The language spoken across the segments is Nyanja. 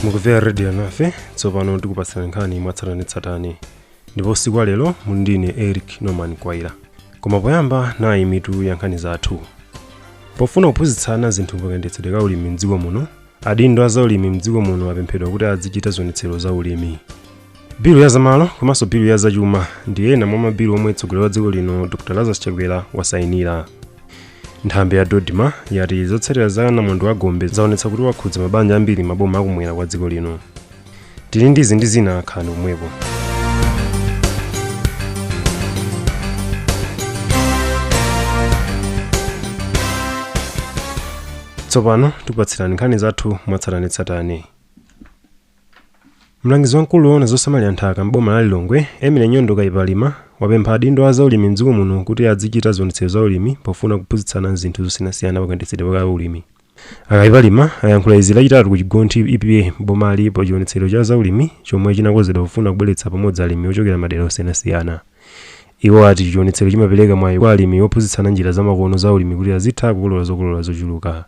mukumvera radio nafe tsopano tikupatsirani nkhani mwatsatanetsatane ndipo usiku wa lero muli ndine eric norman kwaira koma poyamba nayi mitu ya nkhani zathu pofuna kuphunzitsana zinthu pakayendetsedwe ka ulimi mdziko muno Adindo a zaulimi mdziko muno apemphedwa kuti adzichita zionetsero za ulimi. Bilu ya zamalo komanso bilu ya zachuma ndi ena mwa mabilu omwe mtsogoleri wa dziko lino Dr Lazarus Chakwera wasainira. Nthambi ya Dodma yati zotsatira za namondwe wa Gombe zaonetsa kuti wakhudza mabanja ambiri m'maboma akumwera kwa dziko lino. tili ndi izi ndi zina khalani pomwepo tsopano tikupatsirani nkhani zathu mwatsatanetsatane mlangizi wamkulu woona zosamalira nthaka m'boma la lilongwe emile nyondo kayipalima wapempha adindo a zaulimi mdziko muno kuti adzichita zionetsero za ulimi pofuna kuphunzitsana zinthu zosiyanasiyana pakayendetsedwe ka ulimi a kayipalima ayankhula izi lachitatu ku chigonthi epa m'bomali pa chionetsero cha zaulimi chomwe chinakonzedwa pofuna kubweretsa pamodzi alimi ochokera madera osiyanasiyana iwo ati chionetsero chimapereka mwayi kwa alimi ophunzitsana njira zamakono za ulimi kuti azitha kukolola zokolola zochuluka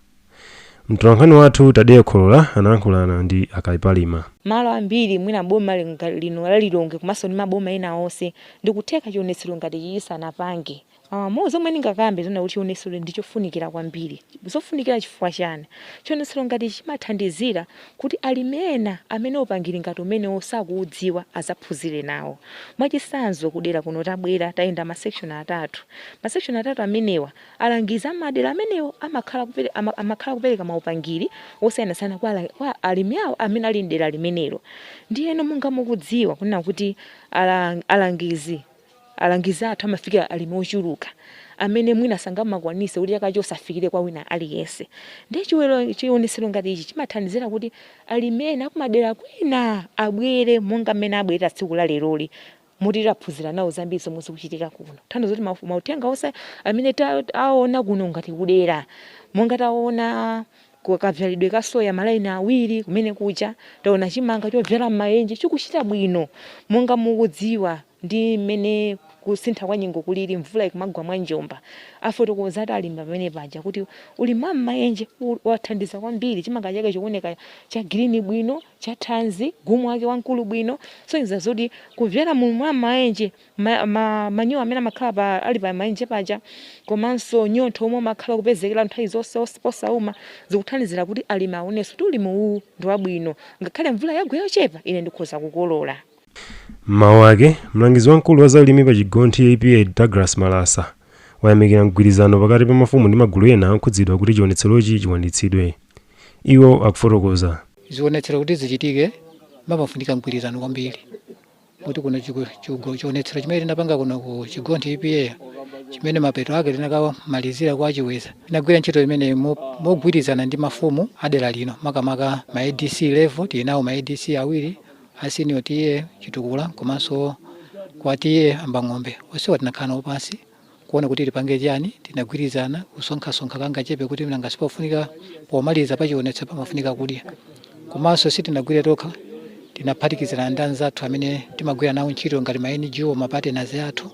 mtolankhani wathu tadeya kholola analankhulana ndi a kayipalima malo ambiri mwina boma linga- lino la lilongwe komanso ndi maboma ena onse ndikutheka chionetsero ngati ichi chisanapange Aaa mo zomwe ndingakambe zona kuti chionetsero ndi chofunikira kwambiri. Zofunikira chifukwa chani? Chionetsero ngati ichi chimathandizira kuti alimi ena amene upangiri ngati umenewu sakuudziwa azaphunzire nawo. Mwachitsanzo ku dera kuno tabwera tayenda ma section atatu. Ma section atatu amenewa alangizi a madera amenewo amakhala kupere ama amakhala kupereka ma upangiri osiyanasiyana kwa ala kwa alimi awo amene ali mdera limenelo. Ndiyeno monga mukudziwa kunena kuti alang alangizi Alangizi athu amafika alimi ochuluka amene mwina sangamakwanitse kuti chaka chonse afikire kwa wina aliyense. Ndiye chionetsero ngati ichi chimathandizira kuti alimi ena akumadera kwina abwere monga mmene abwerera tsiku la leroli moti taphunzira nawo zambiri zomwe zikuchitika kuno. Kutanthauza kuti mauthenga onse amene taona kuno ngati kudera, monga taona kavyalidwe ka soya malaini awiri kumene kuja, taona chimanga chovyala m'maenje chikuchita bwino monga mukudziwa. ndi mmene kusintha kwa nyengo kulili mvula ikumagwa mwa njomba. Afotokoza ati alimi pamene paja kuti ulimi wa m'maenje wathandiza kwambiri chimanga chake chikuoneka cha green bwino, cha thanzi, gumu lake wamkulu bwino, kusonyeza zoti kubyala mu ulimi wa m'maenje manyowa amene amakhala ali pa maenje paja komanso mnyontho omwe umakhala ukupezekera nthawi zonse osauma zikuthandizira kuti alimi aonenso kuti ulimi uwu ndi wabwino, ngakhale mvula yagwa yochepa ine ndikhoza kukolola. M'mawu ake, mlangizi wamkulu wa zaulimi pa Chigonthi EPA Douglas Malasa, wayamikira mgwirizano pakati pa mafumu ndi magulu ena okhudzidwa kuti chionetserochi chikwaniritsidwe. Iwo akufotokoza. Zionetsero kuti zichitike pamafunika mgwirizano kwambiri moti kuno chionetsero chimene tinapanga kuno ku Chigonthi EPA chimene mapeto ake tinakamalizira kwa Chiweza, tinagwira ntchito imeneyi mogwirizana ndi mafumu a dera lino makamaka ma adc level, tili nawo ma adc awiri, a senior TA Chitukula komanso kwa TA M'bang'ombe. Onsewa tinakhala nawo pansi kuona kuti tipange chiyani, tinagwirizana kusonkhasonkha kangachepe kuti nanga sipofunika pomaliza pa chionetsero pamafunika kudya. Komanso sitinagwire tokha, tinaphatikizana ndi anzathu amene timagwira nawo ntchito ngati ma NGO, ma partners athu.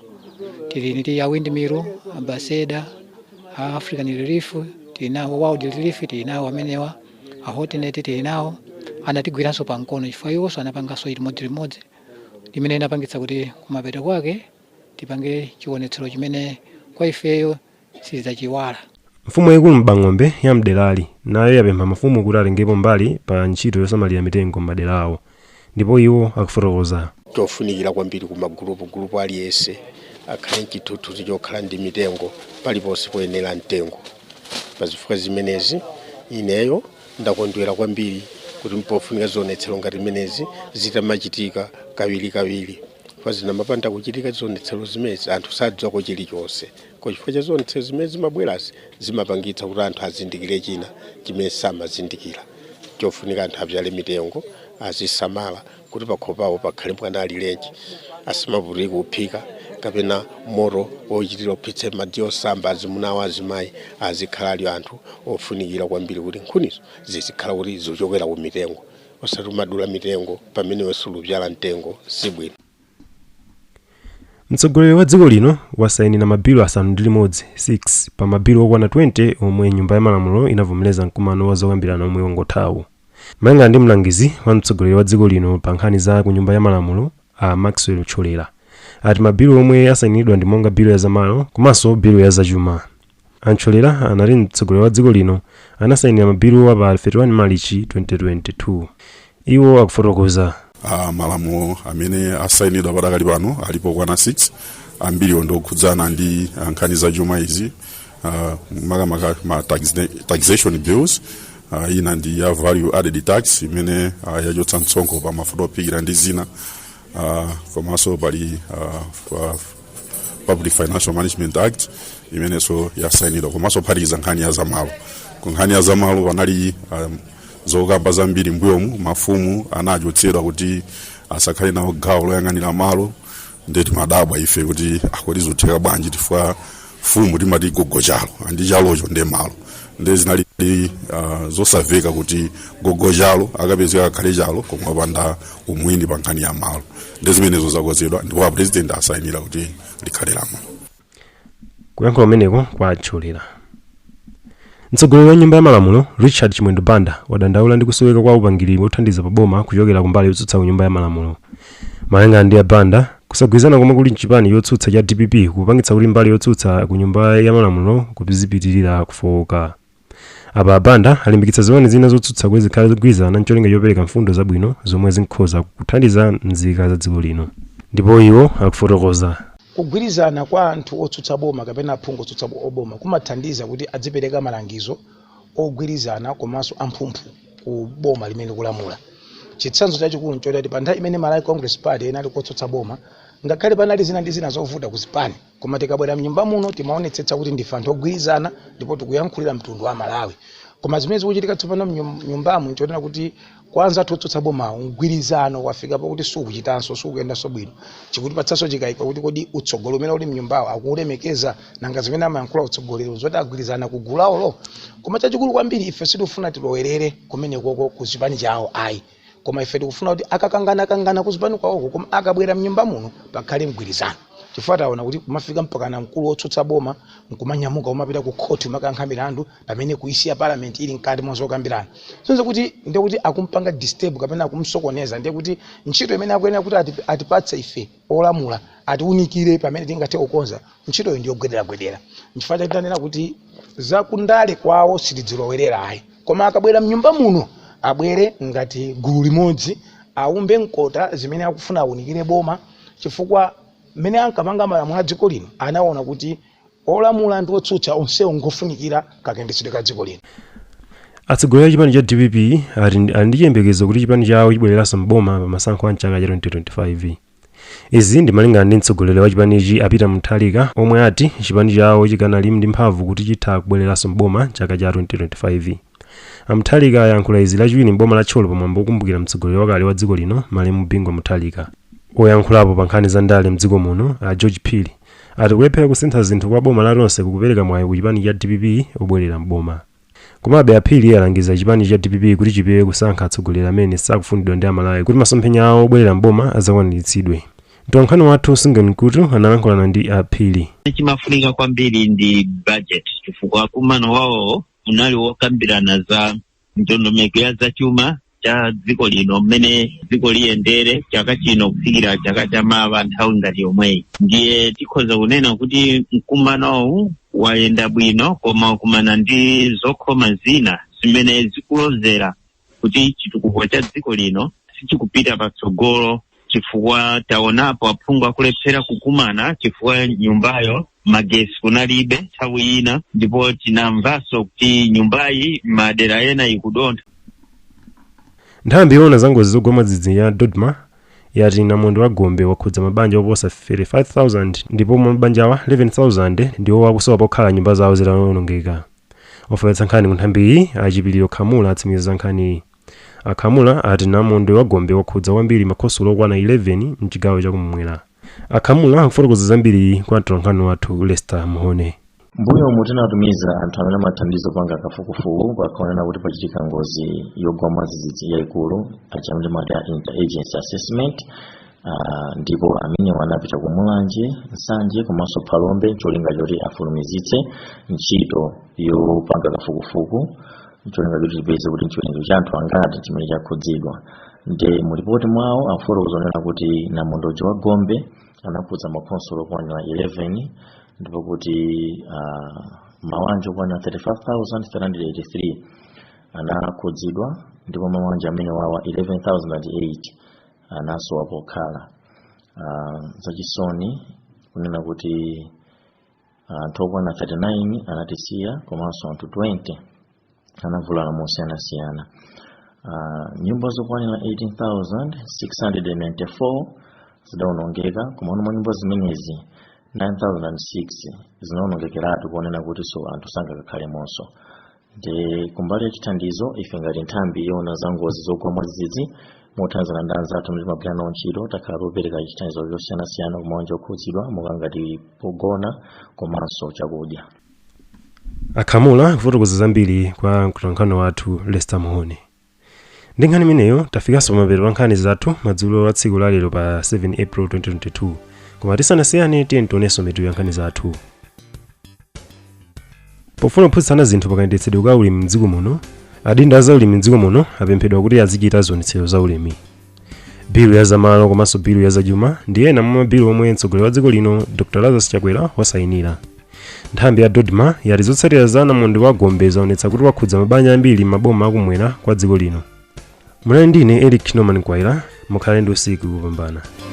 Tili ndi a Windmill, Ambassador, a African Relief, tili nawo World Relief, tili nawo amenewa. A Hotnet tili nawo anatigwiranso pamkono chifukwa iwonso anapanganso chimodzimodzi imene inapangitsa kuti kumapeto kwake tipange chionetsero chimene kwa ifeyo sitidzachiiwala. Mfumu yaikulu M'bang'ombe ya m'derali nayo yapempha mafumu kuti atengepo mbali pa ntchito yosamalira mitengo m'madera awo. ndipo iwo akufotokoza. chofunikira kwambiri ku magulupu, gulupu aliyense akhale nchithuthuzi chokhala ndi mitengo paliponse poyenera mtengo pa zifukwa zimenezi ineyo ndakondwera kwambiri kuti mpofunika zionetsero ngati zimenezi zitamachitika kawirikawiri pa zikamapanda kuchitika zionetsero zimenezi anthu sadziwako chilichonse Kwa chifukwa cha zionetsero zimene zimabwerazi zimapangitsa kuti anthu azindikire china chimene samazindikira chofunika anthu abyale mitengo azisamala kuti pakhomo pawo pakhale mwana alirenji asamavutike kuphika kapena moto wochitira ophitsa madzi osamba azimuna awo azimayi azikhala ali anthu ofunikira kwambiri kuti nkhunizo zizikhala kuti zichokera ku mitengo osati kumadula mitengo pamene iwe sulubyala mtengo sibwino Mtsogoleri wa dziko lino wasainira mabilu asanu ndi limodzi 6 pa mabilu okwana 20 omwe nyumba ya malamulo inavomereza mkumano wa zokambirana omwe wangothawu. Malinga ndi mlangizi wa mtsogoleri wa dziko lino pa nkhani za ku nyumba ya malamulo a Maxwell Thyolera ati mabilu omwe asainiridwa ndi monga bilu ya zamalo komanso bilu ya zachuma. A Ntcholera anati mtsogoleri wa dziko lino anasayinira mabiluwa pa 31 Malichi 2022. Iwo akufotokoza. Malamulo amene asayinidwa padakali pano alipo okwana 6. Ambiriwo ndi okhudzana ndi ah, nkhani za chuma izi ah, makamaka ma taxne- taxation bills ah, ina ndi ya value added tax imene ah, yachotsa msonkho pa mafuta ophikira ndi zina Ah, komanso pali ah, ah, public financial management act imenenso yasainidwa komanso kuphatikiza nkhani ya zamalo ku nkhani ya zamalo panali um, zokamba zambiri mbuyomu mafumu anachotsedwa kuti asakhale nawo gawo loyang'anira malo nde timadabwa ife kuti ah kodi zotheka bwanji chifukwa mfumu timati gogo chalo ndiye chalocho ndiye malo nde zinali uh, zosamveka kuti gogo chalo akapezeka akhale chalo koma wopanda umwini pa nkhani ya malo ndiye zimenezo zakonzedwa ndipo apurezidenti asayinira kuti likhale lamulo kuyankhula kumeneko kwa Ntcholera Mtsogoleri wa nyumba ya malamulo Richard Chimwendo Banda wadandaula ndi kusoweka kwa upangiri wothandiza pa boma kuchokera ku mbali yotsutsa ku nyumba ya malamulo. Malingana ndi a Banda, kusagwirizana komwe kuli mchipani chotsutsa cha dpp kukupangitsa kuti mbali yotsutsa ku nyumba ya malamulo kuzipitirira kufowoka. Apa a Banda alimbikitsa zipani zina zotsutsa kuti zikhale zogwirizana n'cholinga chopereka mfundo zabwino zomwe zinkhoza kuthandiza nzika za dziko lino. Ndipo iwo akufotokoza. Kugwirizana kwa anthu otsutsa boma kapena aphungu otsutsa boma kumathandiza kuti adzipereka malangizo ogwirizana komanso amphumphu ku boma limene likulamula. Chitsanzo chachikulu n'chakuti pa nthawi imene Malawi Congress Party inali kotsutsa boma, ngakhale panali zina ndi zina zovuta ku zipani, koma tikabwera m'nyumba muno timaonetsetsa kuti ndife anthu ogwirizana ndipo tikuyankhulira mtundu wa Amalawi. Koma zimene zikuchitika tsopano m'nyumbamu n'chonena kuti Kwa anzathu otsutsa bomawo, mgwirizano wafika pokuti sukuchitanso, sukuyendanso bwino. Chikutipatsanso chikaiko kuti kodi utsogoleri umene uli m'nyumbawo akuulemekeza? Nanga zimene amayankhula utsogoleriwo n'zoti agwirizana ku gulu lawolo? Koma chachikulu kwambiri, ife sitikufuna tilowerere kumenekoko ku chipani chawo ayi. Koma ife tikufuna kuti akakanganakangana ku zipani kwawoko koma akabwera m'nyumba muno pakhale mgwirizano. Chifukwa taona kuti kumafika mpakana mkulu wotsutsa boma n'kumanyamuka kumapita kukhoti kumakayankha milandu. pamene kuisiya parliament ili mkati mwa zokambirana zomwe kuti ndiye kuti akumpanga disturb kapena akumsokoneza ndiye kuti ntchito imene akuyenera kuti ati- atipatse ife olamula atiunikire pamene tingathe kukonza ntchitoyo ndi yogwederagwedera nchifukwa chake tanena kuti zakundale kwawo sitidzilowerera ayi koma akabwera mnyumba muno abwere ngati gulu limodzi aumbe mkota zimene akufuna aunikire boma chifukwa mmene ankapanga malamulo a dziko lino anaona kuti Olamula ndi otsutsa onsewo ngofunikira kakendetsedwe ka dziko lino. Atsogoleri a chipani cha dpp ali ndi chiyembekezo kuti chipani chawo chibwereranso m'boma pa masankho a mchaka cha 2025. Izi ndi malingana ndi mtsogoleri wa chipanichi a Peter Mutharika omwe ati chipani chawo chikanali ndi mphamvu kuti chitha kubwereranso m'boma mchaka cha 2025. A Mutharika ayankhula izi lachiwiri m'boma la Thyolo pamwambo wokumbukira mtsogoleri wakale wa dziko lino malemu Bingu wa Mutharika. Oyankhulapo pa nkhani za ndale mdziko muno a George Phiri Ati kulephera kusintha zinthu kwa boma la Tonse kukupereka mwayi ku chipani cha dpp obwelera m'boma. Komabe a Phiri alangiza chipani cha dpp kuti chipewe kusankha atsogoleri amene sakufunidwa ndi a Malawi kuti masomphenya awo obwelera m'boma adzakwaniritsidwe. Mtolankhani wathu Sungen Mkutu analankhulana ndi a Phiri. chimafunika kwambiri ndi budget chifukwa mkumano wawo unali wokambirana za ndondomeko ya zachuma cha dziko lino mmene dziko liyendere chaka chino kufikira chaka cha mawa nthawi ngati yomweyi ndiye tikhoza kunena kuti mkumanowu wayenda bwino koma wakumana ndi zokhoma zina zimene zikulozera kuti chitukuko cha dziko lino sichikupita patsogolo chifukwa taonapo aphungu akulephera kukumana chifukwa nyumbayo magesi kunalibe nthawi ina ndipo tinamvanso kuti nyumbayi madera ena ikudontha nthambi yoona za ngozi zogwa mwadzidzidzi ya dodma yati namondwe wa gombe wakhudza mabanja oposa 35,000 ndipo mwa mabanjawa 11,000 ndiwo akusowa pokhala nyumba zawo zitawonongeka ofalitsa nkhani ku nthambiyi a chipiliro khamula atsimikiza za nkhaniyi A Khamula ati namondwe wa Gombe wakhudza kwambiri makhonsolo okwana 11 m'chigawo cha kum'mwera. A Khamula akufotokoza zambiri kwa mtolankhani wathu Lester Muhone. M'mbuyomu tinatumiza anthu amene amathandiza kupanga kafukufuku pakaoneka kuti pachitika ngozi yogwa mwadzidzidzi yaikulu, aja amene timati a interagency assessment, Ah, ndipo amenewa anapita ku mulanje nsanje komanso phalombe ncholinga choti afulumizitse ntchito yopanga kafukufuku ncholinga choti tipeze kuti nchiwerengero cha anthu angati chimene chakhudzidwa nde mulipoti mwawo afotokoza onena kuti namondwe wa gombe anakhudza makhonsolo okwanira 11 ndipo kuti ah, mabanja okwanira 35383 anakhudzidwa ndipo mabanja amenewawa 11008 anasowa pokhala uh, zachisoni kunena kuti anthu okwana 39 anatisiya komanso anthu 20 anavulala mosiyanasiyana uh, nyumba zokwanira 18694 zidaonongeka koma mwa nyumba zimenezi 9006 zinaonongekeratu kunena kuti so anthu sangakakhalemonso nde kumbali ya chithandizo ife ngati nthambi yoona za ngozi zogwa mwadzidzidzi mothandizana ndi anzathu amene timagwira nawo ntchito takhala topereka chithandizo chosiyanasiyana ku mabanja okhudzidwa monga ngati pogona komanso chakudya akhamula kufotokoza zambiri kwa mtolankhani wathu lester mhone ndi nkhani imeneyo tafikanso pamapeto pa nkhani zathu madzulo a tsiku lalero pa 7 april 2022 koma tisanasiyane tiyeni tionenso mitu ya nkhani zathu pofuna kuphunzitsana zinthu pakayendetsedwe ka ulimi mdziko muno adindo a zaulimi mdziko muno apemphedwa kuti azichita zionetsero za ulimi bilu ya zamalo komanso bilu ya zachuma ndi ena mwa mabilu omwe mtsogoleri wa dziko lino dr lazarus chakwera wasayinira nthambi ya dodma yati zotsatira za namondwe wa gombe zaonetsa kuti wakhudza mabanja ambiri m'maboma akumwera kwa dziko lino munali ndine eric norman kwaira mukhale ndi usiku wopambana